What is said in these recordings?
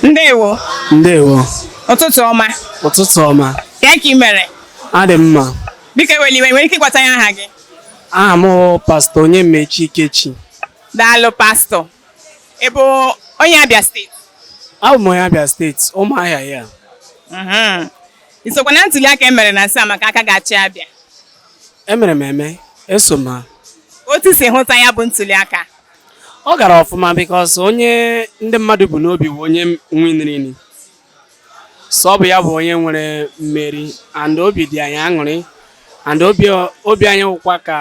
ndewo ndewo ụtụtụ ọma ụtụtụ ọma kee ka ị mere adị m mma biko ewela iwe ị nwere ike ịgwatụ anyị aha gị aha m bụ pastọ Onyemaechi Ikechi daalụ pastọ Ị bụ onye Abia steeti? Abụ m onye Abia steeti, Ụmụahịa ya. Mhm. I sokwa na ntuli aka e mere na nso a maka aka ga-achị Abia? Emere m eme, eso m ha. Otu i si hụta ya bụ ntuli aka? Ọ gara ọfụma because onye ndị mmadụ bu n'obi bụ onye winiri. so ọ bụ ya bụ onye nwere mmeri and obi dị anyị aṅụrị and obi obi anyị wụkwa ka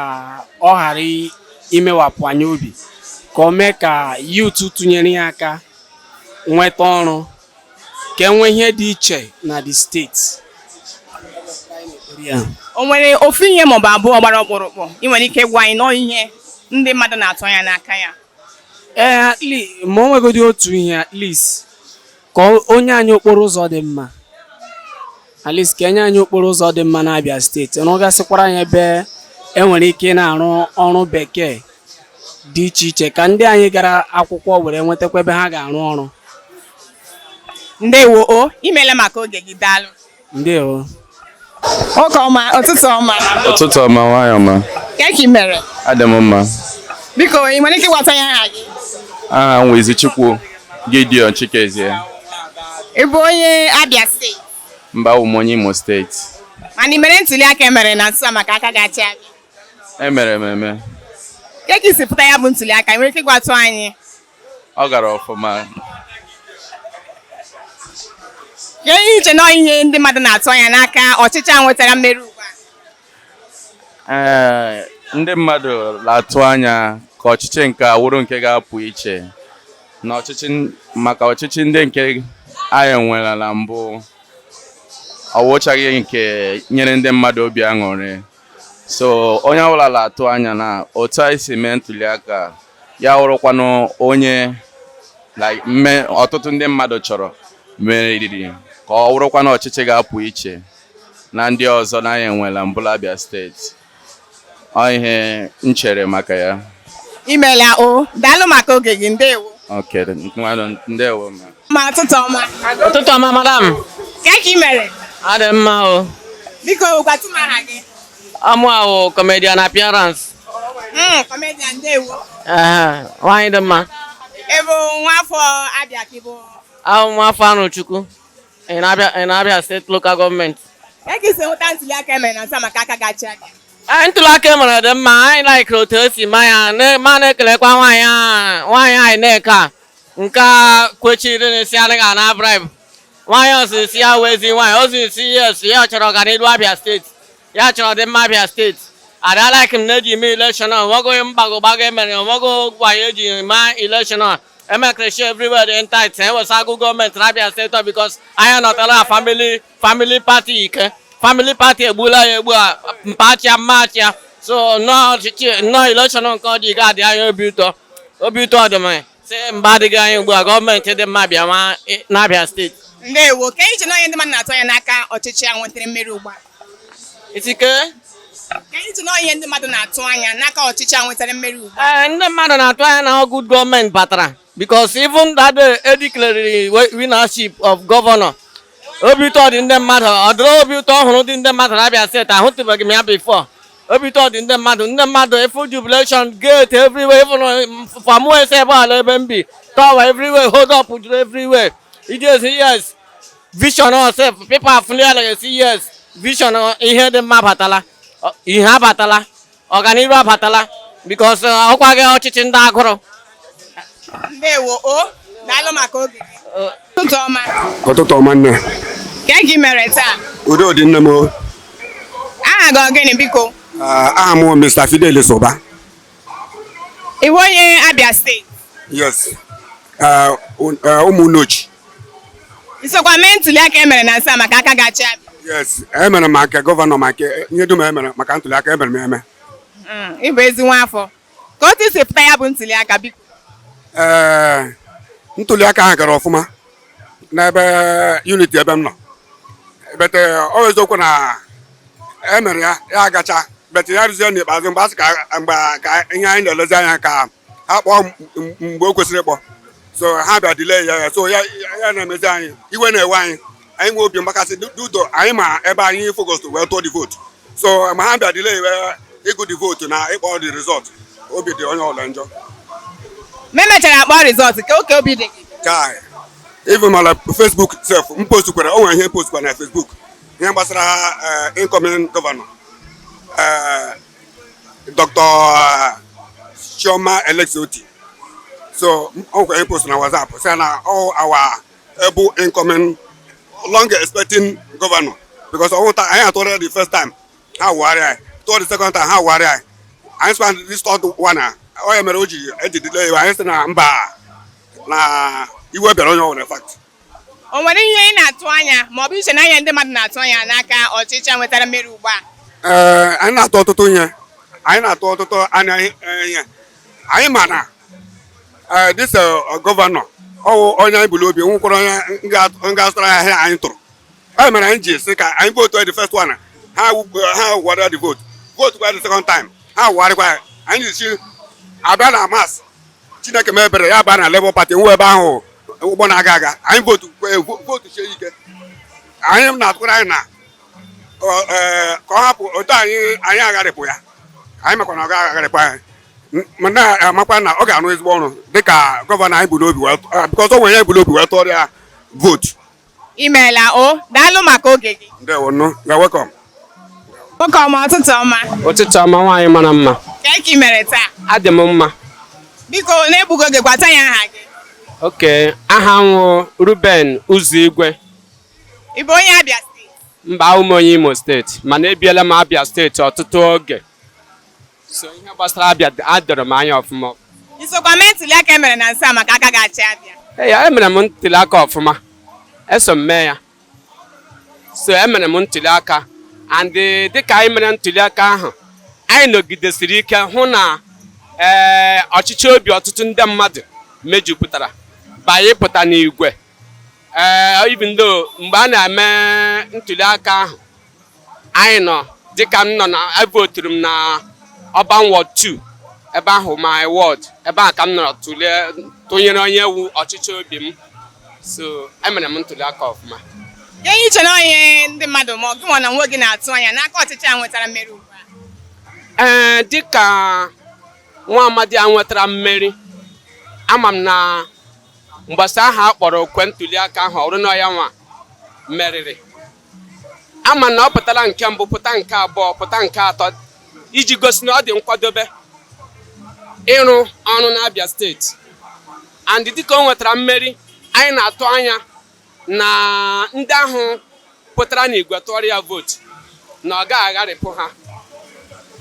ọ ghara i- imewapụ anyị obi ka o mee ka youth tụnyere ya aka nweta ọrụ ka e nwee ihe dị iche na the steeti Ya. o nwere ofu ihe maọbụ abụọ gbara ọkpụrụkpụ ị nwere ike gwa anyị na ọ ihe ndị mmadụ na-atụ anya n'aka ya ee at least ma o nwegodi otu ihe at least ka o nye anyị okporo ụzọ dị mma at least ka e nye anyị okporo ụzọ dị mma n'Abia steeti rụgasịkwara anyị ebe e nwere ike na-arụ ọrụ bekee dị iche iche ka ndị anyị gara akwụkwọ were nwetakwa ebe ha ga-arụ ọrụ ndewo o imele maka oge gị daalụ ndewo nwoke ọma ụtụtụ ọma ụtụtụ ọma nwanyị ọma kee ka ị mere adị m mma biko ị nwere ike ịgwatụ anyị aha gị aha m wụ ezichukwu gideon chikezie ị bụ onye abia steeti mba awụ m onye imo steeti mana ị mere ntuli aka e mere na nso a maka aka ga-achị abịa emere m eme kee ka i si hụta ya bụ ntuli aka ị nwere ike ịgwatụ anyị ọ gara ọfụma kee ihe i che na ihe ndị mmadụ na-atụ anya n'aka ọchịchị a nwetara mmeri ugbu a ee ndị mmadụ na-atụ anya ka ọchịchị nke a wụrụ nke ga-apụ iche na ọchịchị maka ọchịchị ndị nke anyị nwere na mbụ ọ wụchaghị nke nyere ndị mmadụ obi aṅụrị so onye ọbụla na-atụ anya na otu anyị si mee ntuli aka ya wụrụkwanụ onye mme ọtụtụ ndị mmadụ chọrọ meriri ka ọ wụrụkwanụ ọchịchị ga-apụ iche na ndị ọzọ na anyị enwela mbụ la Abia steeti ọ ihe m chere maka ya imela o daalụ maka oge gị ndewo Okay, ngwanụ ndewo ma. Ma ụtụtụ ọma. Ụtụtụ ọma madam. Kee ka ị mere? Adị m mma o. Biko gwatụ m aha gị. Aha m wụ comedian appearance. Mm, comedian ndewo. Ehe, nwaanyị dị mma. Ị bụ nwa afọ Abia ka ị bụ. Awụ m nwa afọ Arọchukwu. In Abia, in Abia steeti lokal gọọmenti. Ka ka i si hụta ntuli aka emere na nso a maka aka ga-achị Abia. Anyị ntụli aka e mere dị mma, anyị laikiri otu e si mee ya, na- ma na-ekelekwa nwaanyị a- nwaanyị INEC a nke a kwechiri n'isi anaghị ana bribe. nwaanyị o zi sị ya wụ ezi nwaanyị o zi sị yes ya chọrọ ọganihu Abia steeti ya chọrọ ọdịmma Abia steeti ada like m na-eji eme ileshọn o nweghị mago mago emere o nweghị wayo eji mee ileshọn emekreshi everywhere dị tight ewesa good gọọmenti na Abia steeti bikos anyị nọtara famili famili pati ike famili pati egbula anyị egbu a mpachia mmachia so nnọọ ọchịchị nnọọ ileshọn nke ọ dị ga-adị anyị obi ụtọ obi ụtọ dị m sị mgbe adịghị anya ugbu a gọọmenti dị mma abịa nwa ị- n'Abia steeti ndewo ka anyị ji na onye ndị mmadụ na-atụ anya n'aka ọchịchị a nwetara mmeri ugbu a itike ka anyị ji na onye ndị mmadụ na-atụ anya n'aka ọchịchị a nwetara mmeri ugbu a ee ndị mmadụ na-atụ anya na ọ good gọọmenti batara because even that day e declarere wi- winnership of gọvanọ obi ụtọ dị ndị mmadụ ụdịrị obi ụtọ ọhụrụ dị ndị mmadụ na Abia steeti ahụtụbeghị m ya before obi ụtọ dị ndị mmadụ ndị mmadụ i fụ jubilation gate everywhere even from ese ebe ala ebe m bi tawa everywhere hold up juru everywhere iji esi yes vision osef people afụli ala ga-esi yes vision ihe dị mma abatala ihe abatala ọganihu abatala because ọ wụkwaghị ọchịchị ndị agụrụ ndewo o daalụ maka oge ụtụtụ ọma ụtụtụ ọma nne ka i mere taa udo dị nne m o aha gị ọ gịnị biko Ah, aha m bụ Mr. Fidelis Uba ị wụ onye Abia steeti yes Ah, un- ah, Ụmụnneochi i sokwa mee ntuli aka emere na nso a maka aka ga-achị Abia yes emere m maka gọvanọ maka ihe dum emere maka ntuli aka emere m eme Mm, ị bụ ezi nwa afọ ka otu i si hụta ya bụ ntuli aka biko ee eh, ntuli aka ahụ gara ọfụma n'ebe uniti ebe m nọ but ọ eh, eziokwu na e mere ya ya agacha but ya ruzie n'ikpeazụ mgbe asị mgbe ka ihe anyị na-elezi anya ka ha kpọọ mgbe o kwesịrị ịkpọ so ha bịa delay ya ya so ya na-emezi anyị iwe na-ewe anyị anyị nwee obi mgbakasị due to anyị ma ebe anyị focus wee tụọ the vote so mgbe ha bịa delay wee ịgụ the vote na ịkpọ the result obi dị onye ọbụla njọ mgbe emechara kpọọ result kee ka obi dị gị chai even ma na Facebook sef m postkwara o nwere ihe m postkwara na Facebook ihe gbasara eh, incoming gọvanọ eh, Dr. Eh, Chioma Alex Otti so m- o nwere ihe m post na WhatsApp sị na all our able incoming long expecting gọvanọ because ọ wụ taa anyị atụrụ ya the first time ha wụgharịa anyị tụọ the second time ha wụgharịa anyị anyị sịkwa this third one a ọ ya mere o ji eji delay anyị sị na mba na iwe bịara onye ọbụla fact o nwere ihe ị na-atụ anya ma ọ bụ i che na ihe ndị mmadụ na-atụ anya n'aka ọchịchị a nwetara mmeri ugbu a ee anyị na-atụ ọtụtụ ihe anyị na-atụ ọtụtụ anya ihe anyị ma na Eh, this uh, gọvanọ ọ wụ onye anyị bu n'obi wụkwara onye ga-azụtara anyị ahịa anyị tụrụ ya mere anyị ji sị ka anyị vootu the first one ha wụgharịa the vote vote kwa the second time ha wụgharịkwa ya anyị ji si abịa na March Chineke mebere ya baa na Labour Party nwe ebe ahụ ụgbọ na-aga aga anyị votu votu sie ike anyị na-atụkwara anya na eh, ka ọ hapụ otu anyị anyị agharịpụ ya anyị makwa na ọ ga-agharịpụ anyị ma na-amakwa na ọ ga-arụ ezigbo ọrụ dịka gọvanọ anyị bu n'obi because o nwere ihe anyị bu n'obi wee tụọrọ ya vootu i meela o daalụ maka oge gị ndewo nụ you're welcome nwoke ọma ụtụtụ ọma ụtụtụ ọma nwaanyị mara mma ka i mere taa adị m mma biko na-egbughị oge gwatụ anyị aha gị okay aha m wụ Ruben Uzoigwe ị bụ onye Abia steeti mba awụ m onye Imo steeti mana ebiela m Abia steeti ọtụtụ oge so ihe gbasara Abia adọrọ m anya ọfụma i sokwa mee ntuli aka e mere na nso a maka aka ga-achị Abia ee yeah emere m ntuli aka ọfụma eso m mee ya so emere m ntuli aka and eh, dịka anyị mere ntuli aka ahụ anyị nọgidesiri ike hụ na ee eh, ọchịchọ obi ọtụtụ ndị mmadụ mejupụtara banye pụta n'igwe ee eh, even though mgbe a na-eme ntuli aka ahụ anyị nọ dịka m nọ na evoturu m na Urban Ward 2 ebe ahụ my ward ebe ahụ ka m nọrọ tụlee tụnyere onye wụ ọchịchọ obi m so emere m ntuli aka ọfụma ihe i che na ihe ndị mmadụ ma ọ gị nwa n'onwe gị na-atụ anya n'aka ọchịchị a nwetara mmeri ugbu a ee dịka nwa amadi a nwetara mmeri ama m na mgbasa ahụ a kpọrọ okwe ntuli aka ahụ ọ wụrụ na ya nwa meriri ama m na ọ pụtara nke mbụ pụta nke abụọ pụta nke atọ iji gosi na ọ dị nkwadobe ịrụ ọrụ n'Abia steeti and dịka o nwetara mmeri anyị na-atụ anya na ndị ahụ pụtara n'igwe tụọrọ ya vootu na ọ gaghị agharịpụ ha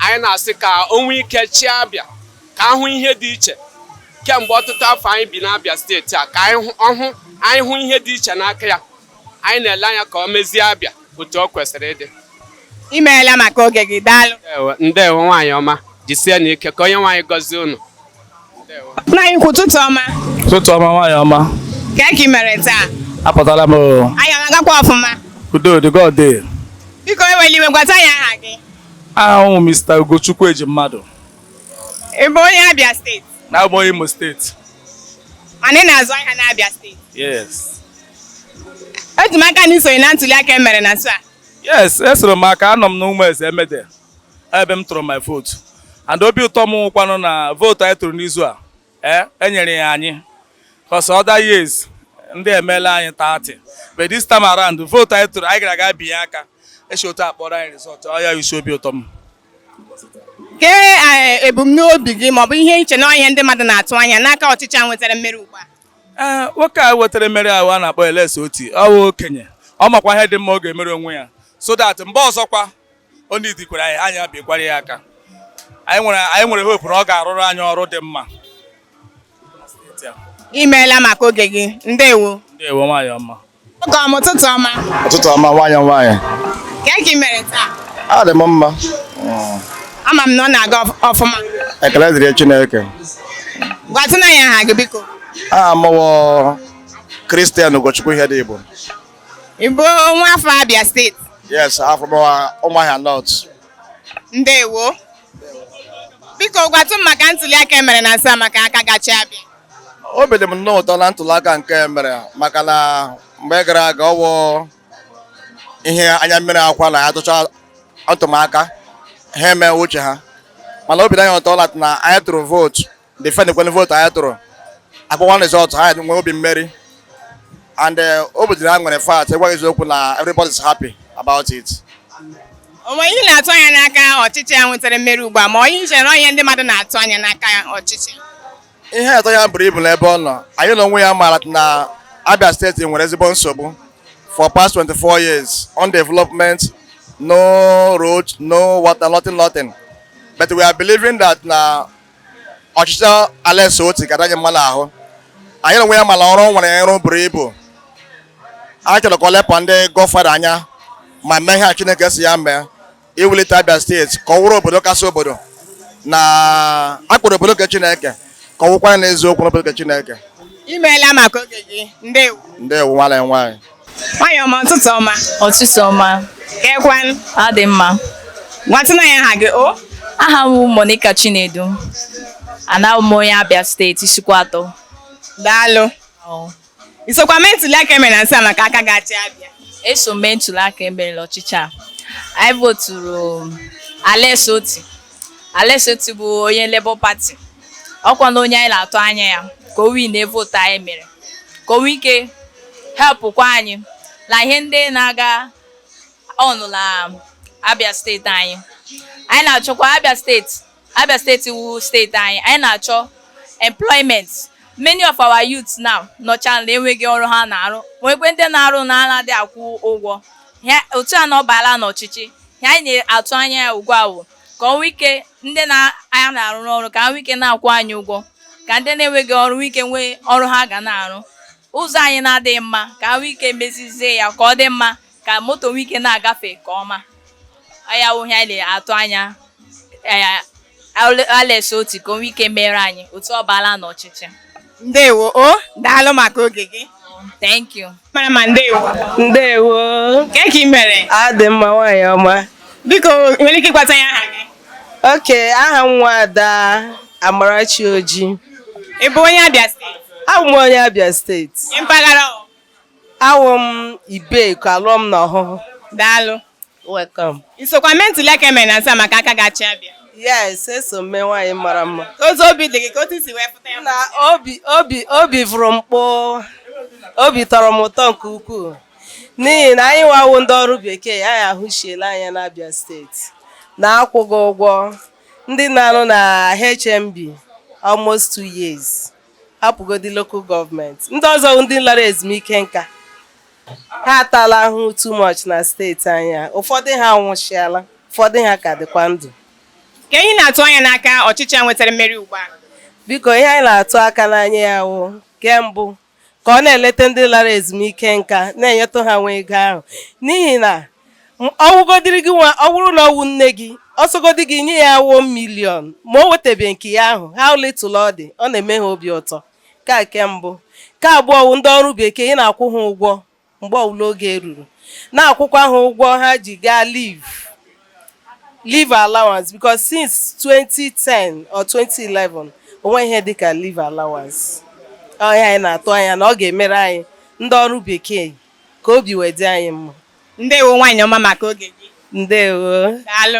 anyị na-asị ka o nwee ike chịa Abia ka a hụ ihe dị iche kemgbe ọtụtụ afọ anyị bi n'Abia steeti a ka anyị hụ ihe dị iche n'aka ya anyị na-ele anya ka o mezie Abia otu ọ kwesịrị ịdị imeela maka oge gị daalụ ndewo nwaanyị ọma jisie na ike ka Onyenweanyị gọzie unu nna anyị ukwu ụtụtụ ọma ụtụtụ ọma nwaanyị ọma kee ka ị mere taa apụtala m anyị ọ na-agakwa ọfụma udo dịgodi biko ewela iwe gwatụ anyị aha gị aha m wụ Mr. Ugochukwu Ejimmadụ ị bụ onye Abia steeti no abụ m onye Imo steeti mana ị na-azụ ahịa n'Abia steeti yes eji m aka na isonye na ntuli aka emere na nso a yes esoro m maka anọ m na Ụmụeze Emede ebe m tụrụ my vote and obi ụtọ m wụkwanụ na vootu anyị tụrụ n'izu a ee eh, enyere ya anyị cos other years ndị emeela anyị 30 but this time around vootu anyị tụrụ anyị gara aga binye aka esi otu a kpọọrọ anyị rizọtụ ọ ya isi obi ụtọ m kee eh, ebumnobi gị maọbụ ihe i che na ihe ndị mmadụ na-atụ anya n'aka ọchịchị a nwetara mmeri ugbu a ee eh, nwoke a nwetara mmeri ahụ a na-akpọ Alex Otti ọ bụ okenye ọ makwa ihe dị mma ọ ga-emere onwe ya so that mgbe ọzọkwa o needikwara anyị anyị abịakwara ya aka anyị nwere hope na ọ ga-arụrụ anyị ọrụ dị mma imeela maka oge gị ndewo ndewo nwaanyị ọma oge ọma ụtụtụ ọma ụtụtụ ọma nwaanyị nwaanyị kee ka ị mere taa adị m mma ama m na ọ na-aga ọfụma ekele dịrị Chineke gwatụnụ anyị aha gị biko aha m wụ Christian Ugochukwu Ihedigbo ị bụ nwa afọ Abia steeti yes from Ụmụahịa North ndewo biko gwatụ m maka ntuli aka emere na nso a maka aka ga-achị Abia obi dị m nnọọ ụtọ na ntuli aka nke emere maka na mgbe gara aga ọ wụ ihe anya mmiri akwa na a tụchaa atụmaka ha eme uche ha mana obi dị anyị ụtọ na anyị tụrụ vootu defendikwa vootu anyị tụrụ akpọwa rizọtụ ha nwee obi mmeri and eh, obi dịrị ha nwere fact ịgwa gị eziokwu na everybody is happy about it o nwee ihe ị na-atụ anya n'aka ọchịchị a nwetara mmeri ugbu a maọbụ ihe i che na ihe ndị mmadụ na-atụ anya n'aka ọchịchị ihe atụ anya buru ibu n'ebe ọ nọ anyị na onwe ya maara na Abia steeti nwere ezigbo nsogbu for past 24 years on development no road no water nothing nothing but we are believing that na ọchịchị Alex Otti ga-adị anyị mma n'ahụ anyị na onwe ya mara ọrụ o nwere ịrụ buru ibu a chọrọ ka o lepụ ndị godfather anya ma mee ihe a Chineke sị ya mee iwulite Abia steeti ka ọ wụrụ obodo kasị obodo na a kpọrọ obodo nke Chineke ka ọ wụkwara n'eziokwu n'obodo nke Chineke imeela maka oge gị ndewo ndewo nwanne m nwaanyị Nwanyị ọma ụtụtụ ọma. Ụtụtụ ọma. Keekwanụ. Ọ dị mma. Gwatụnụ anyị aha gị o. Aha m bụ Monica Chinedu. Abụ m onye Abia steeti Isuikwuatọ. Daalụ. I sokwa mee ntuli aka emere na nso a maka aka ga-achị Abia. Eso m mee ntuli aka emere n'ọchịchị a. Anyị voturu Alex Otti. Alex Otti bụ onye Labour Party ọkwa na onye anyị na-atụ anya ya ka o win na vootu anyị mere ka o nwee ike helpụkwa anyị na ihe ndị na-aga on na Abia steeti anyị anyị na-achọkwa Abia steeti Abia steeti wụ steeti anyị anyị na-achọ employment many of our youths now nọcha na enweghị ọrụ ha na-arụ nwekwe ndị na-arụ na anaghị akwụ ụgwọ otu a na ọ baala n'ọchịchị ihe anyị na-atụ anya ya ugbu a wụ ka o nwee ike ndị anyị na-arụ n'ọrụ ka ha nwee ike na-akwụ anyị ụgwọ ka ndị na-enweghị ọrụ nwee ike nwee ọrụ ha ga na-arụ ụzọ anyị na-adịghị mma ka ha nwee ike mezizie ya ka ọ dị mma ka moto nwee ike na-agafe nke ọma ọ ya wụ ihe anyị na-atụ anya Alex Otti ka o nwee ike mere anyị otu ọ baala n'ọchịchị. Ndewo o daalụ maka oge gị. Thank you. Mara mma ndewo. Ndewo. Kee ka ị mere? Adị m mma nwaanyị ọma. Biko i nwere ike ịgwatụ anyị aha gị? Okay aha m wụ Ada Amarachi Oji. Ị bụ onye Abia steeti? Abụ m onye Abia steeti. Mpaghara ọ? Awụ m Ibeku, a lụọ m na Ọhụhụ. Daalụ. Welcome. I sokwa mee ntuli aka emere na nso a maka aka ga-achị Abia. Yes, eso m mee nwaanyị mara mma. Otu obi dị gị ka otu si wee pụta ya. Na obi obi obi vụrụ m kpoo. Obi tọrọ m ụtọ nke ukwuu. N'ihi na anyị wa wụ ndị ọrụ bekee, anyị ahụsiela anya n'Abia steeti. Na akwụghị ụgwọ ndị na-arụ na HMB almost two years. hapụgodi local government ndị ọzọ ndị lara ezumike nka ha atala ahụ too much na steeti anyị a ụfọdụ ha anwụsiala ụfọdụ ha ka dịkwa ndụ kee ihe ị na-atụ anya n'aka ọchịchị a nwetara mmeri ugbu a biko ihe anyị na-atụ aka n'anya ya wụ nke mbụ ka ọ na-eleta ndị lara ezumike nka na-enyetụ ha nwa ego ahụ n'ihi na ọwụgodiri gị nwa ọ bụrụ na ọwụ nne gị ọsọgodi gị nye ya one million ma o wetabeghị nke ya ahụ how little ọ dị ọ na-eme ha obi ụtọ ka nke mbụ nke abụọ wụ ndị ọrụ bekee ị na-akwụ ha ụgwọ mgbe ọwụla oge ruru na-akwụkwa ha ụgwọ ha ji gaa leave leave allowance because since 2010 or 2011 o nweghị ihe dịka leave allowance ọ ihe anyị na-atụ anya na ọ ga-emere anyị ndị ọrụ bekee ka obi wee dị anyị mma ndewo nwaanyị ọma maka oge gị ndewo daalụ